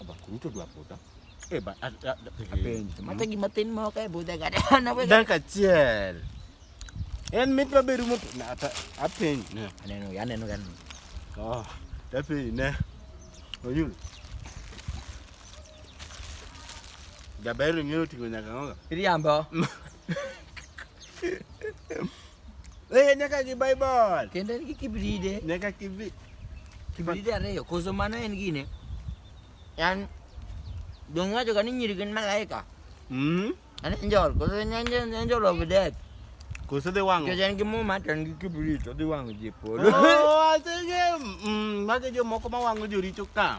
Aba kuruto dwa puta. Eh ba apenji. Mata gi matin mo ka buda ga na we. Dan ka chiel. En mit ba beru mo na ata apenji ne. Aneno ya aneno gan. Oh, da pe ne. Oyul. Gaberu ng'eyo ting'o nyaka ng'oga. Riambo. Eh, nyaka gi Bible. Kendo en gi kibride. Nyaka kibride. Kibride ariyo. Koso mano en gine. Yan dong wacho ka ni nyiri gin malaika. Mm. An angel. Koso en angel of death. Koso dhi wang'o. Kech en gi muma to en gi kibrit odhi wang'o ji e polo. Oh, asenge. Mm, mage jomoko ma wang'o joricho ka.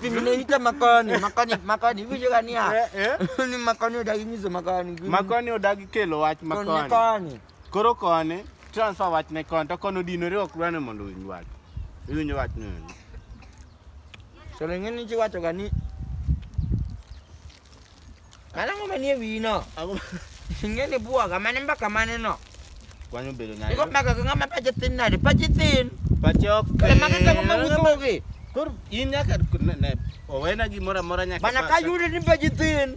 Vinaita makoni, makoni, makoni, hivi jua ni ya. Eh, eh. Ni makoni odagi nyizo makoni. Makoni odagi kelo wach makoni. Makoni. Koro koni, transfer wach ne koni, to koni odinore ok dwane mondo owinj wach. Iwinjo wach ni. To ng'eni ji wacho ga ni Mana ngoma nie wino. Aku ngene buwa ka mane mbaka mane no. Kwani bedo nayo. Iko mbaka ngama pa jetin na, pa jetin. Pa chok. Kale maka tango mamutogi. Kur in nyaka ne owena gimora mora nyaka. Mana ka yudi ni pa jetin.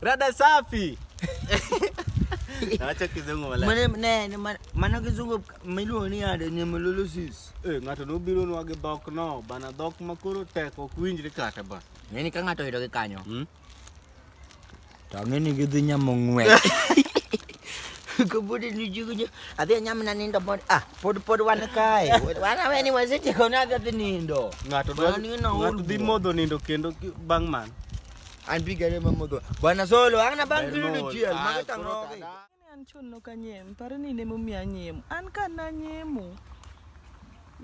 Rada safi. Acha kizungu wala. Mane ne ne man- mano kizungu miluongo ni ade ni melolosis. Eh, ng'ato nobiro nwage dhok no, bana dhok ma koro tek ok winjre kata ba. Ng'eni ka ng'ato oyudo gi kanyo. Hmm? To ng'eni gidhi nyamo ng'we. Kabudi ni jugu nyo. Adhi anyam na nindo pod ah pod pod wan kae. Wana weni wasiti kona adhi nindo. Ng'ato Mano dwa- ni no ng'ato dhi ulbo. modho nindo kendo ki- bang' mano. Anpigele mamoto. Bwana Solo, ana bang kilu chiel, mageta ngoge. An chon no kanyem, pare ni ne momi anyem. An ka na nyemo.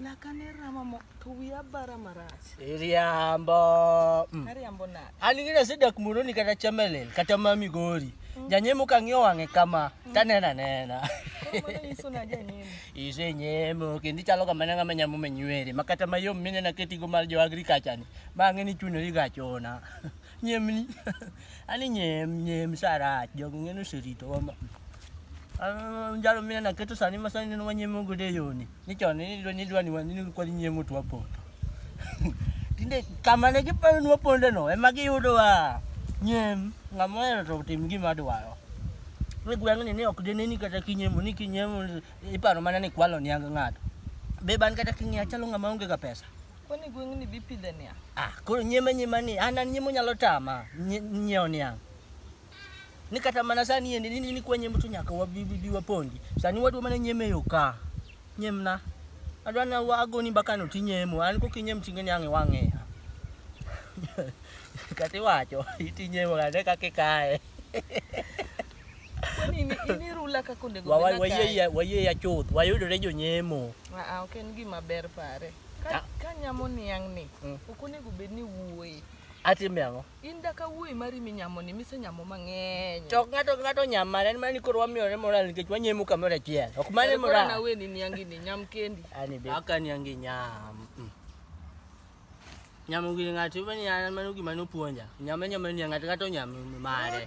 Lakane rama mo to wiya bara marach. Iriambo. Mm. Ariambo na. An ngina se dak muno ni kata chamelel, kata ma migori. Mm. Janyemo ka ng'iyo wang'e kama, mm. tanena nena. Ise nyemo, kendo ichalo kama nanga manyamo menywere, makata mayom minena ketigo mar jo agriculture ni. Bang'e ni chuno ni gachona. Nyemni. Ani nyem nyem sarach jogo ng'eno serito wama. Njalo mina na keto sani masani neno wanyemo gode yoni. Ni chon ni dwa ni dwa ni wani ni kwa nyemo twa poto. Tinde kama ne giparo nwa ponde no ema giyudo wa nyem ng'ama ohero to tim gima dwaro. Ni gweng'ni ni ok deneni kata kinyemo ni kinyemo iparo mana ni kwalo niang ng'ato. Be ban kata king'iya chalo ng'ama onge ga pesa. Kwani gweng' ni bipidhe niya? Ah, koro nyema nyema ni an an nyemo nyalo tama nyiewo niang'. Ni kata mana sani yende ni ni kwa nyemo to nyaka wabi bi wapondi. Sani wadwa mana nyeme yo ka. Nyemna. Adwa na wago ni baka no tinyemo. An ko kinyem tinge niang' iwang'e. Kati wacho itinyemo kata kaka ikae. Kwani ni ni rula ka konde go. Wayeye wayeye chuth. Wayudore jonyemo. Ah, ok en gima ber pare. Ka, ka nyamo niang' ni, mm. ok onego bed ni wuoye. Atime ang'o? In da ka wuoyi mari minyamo ni mise nyamo mang'eny. To ng'ato ng'ato nyamo mare mani koro wamiyore moral nikech wanyemo kamoro achiel. Ok mane moral. Koro na weni niangi ni nyam kendi. Ani be. Aka niangi nyam. Mm. Nyamo gi ng'ato mani an mano gima nopuonja. Nyame nyame ni ng'ato ng'ato nyamo mare.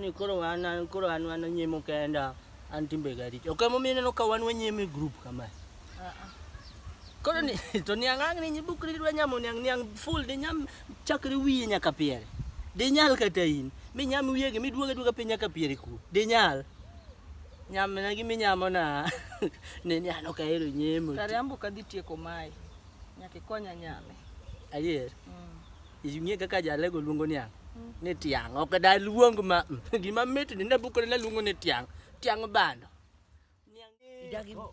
ni koro wan an koro an wan nyimo kenda an timbe ga richo okay momiyo ineno ka wan wanyimo e group kama koro ni to niang' ang' ni nyibukri dwa nyamo niang' niang' full di nyam chakre wiye nyaka piere di nyal kata in mi nyam wiye gi miduoga duoga piny nyaka piere ku di nyal nyam na gi minyamo na ne ni an ok ahero nyemo kare ambo kadhi tieko mae nyaka ikonya nyame adier Mm. Ing'e kaka jalego luongo niang'? Ni tiang'. Ok da luong ma gima mit ni ne bukore ne luongo ni tiang'. Tiang' bando. Niang'.